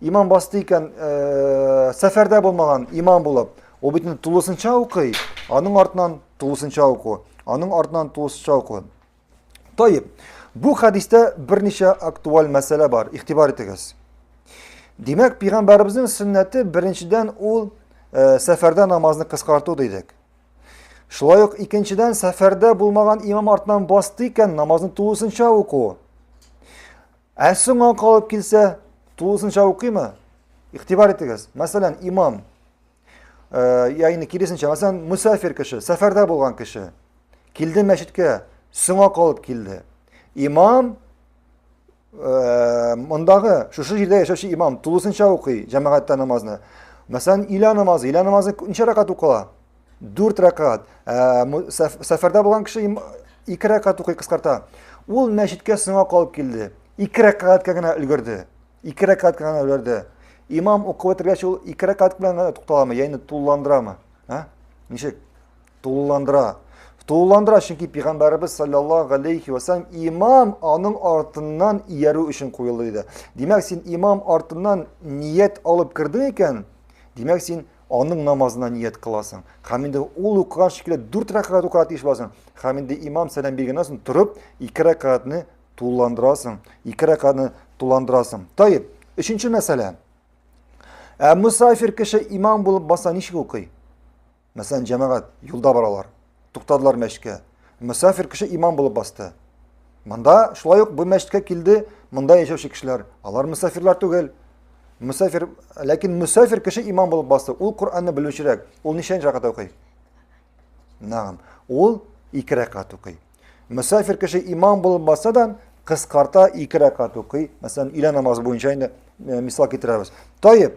Имам басты икән, э, сәфәрдә булмаган имам булып, ул бит тулысынча укый, аның артынан тулысынча уку, аның артынан тулысынча уку. Тоеп, бу хәдистә берничә актуаль мәсьәлә бар, игътибар итегез. Димәк, пигамбарыбызның сөннәте беренчедән ул э, сәфәрдә намазны кыскарту дидек. Шулай ук икенчедән сәфәрдә булмаган имам артынан басты икән, намазны тулысынча уку. Ә соңа калып килсә, тулысынча укыймы? Игътибар итегез. Мәсәлән, имам, э, ягъни киресенчә, мәсәлән, мусафир кеше, сәфәрдә булган кеше, килде мәчеткә, соңа калып килде. Имам э, мондагы шушы җирдә яшәүче имам тулысынча укый җәмәгатьтә намазны. Мәсәлән, илә намазы, илә намазы ничә рәкат укыла? Дүрт рәкат. Ә, сәфәрдә булган кеше ике рәкат укый кыскарта. Ул мәчеткә соңа калып килде. Ике рәкатка гына өлгерде. Ике рәкатка гына өлгерде. Имам укып бетергәч ул ике рәкат белән генә тукталамы, яни тулыландырамы? Ә? Ничек? Тулыландыра. Тулыландыра, чөнки пәйгамбәребез саллаллаһу алейхи ва саллям имам аның артыннан иярү өчен куелды диде. Димәк, син имам артыннан ният алып кирдең икән, димәк, син Аның намазына ният кыласың. Һәм инде ул укыган шикелле дүрт рәкәгать укырга тиеш буласың. Һәм инде имам сәлам биргәннән соң торып, ике рәкәгатьне тулыландырасың. Ике рәкәгатьне тулыландырасың. Таеп, өченче мәсьәлә. Ә мусафир кеше имам булып баса ничек укый? Мәсәлән, җәмәгать юлда баралар. туктадылар мәчкә. Мөсафир кеше имам булып басты. Монда шулай ук бу мәчеткә килде, монда яшәүче кешеләр, алар мөсафирлар түгел. Мөсафир, ләкин мөсафир кеше имам булып басты. Ул Коръәнне белүчерәк. Ул ничәнче рәкәт укый? Нагым. Ул ике рәкәт укый. Мөсафир кеше имам булып басса да, кыскарта ике рәкәт укый. Мәсәлән, илә намазы буенча инде мисал китерәбез. Таеп,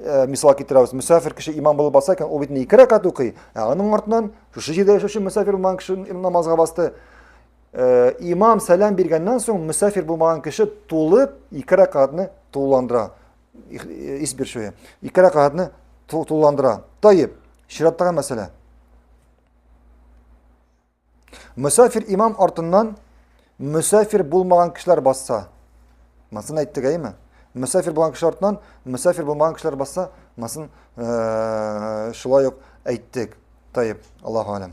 Э, мисал китерәбез мөсәфир кеше имам булып баса икән ул бит ике рәкәт укый ә аның артынан шушы җирдә яшәүче мөсәфир булган кеше намазга басты э, имам сәлам биргәннән соң мөсәфир булмаган кеше тулып ике рәкәтне тулыландыра э, ис биршүе ике рәкәтне тулыландыра таеп чираттагы мәсьәлә Мөсафир имам артыннан мөсафир булмаган кешеләр басса. Масын әйттек әйме? Мөсафир булган кешеләр артыннан мөсафир булмаган кешеләр басса, масын э, шулай ук әйттек. Тайып, Аллаһу алем.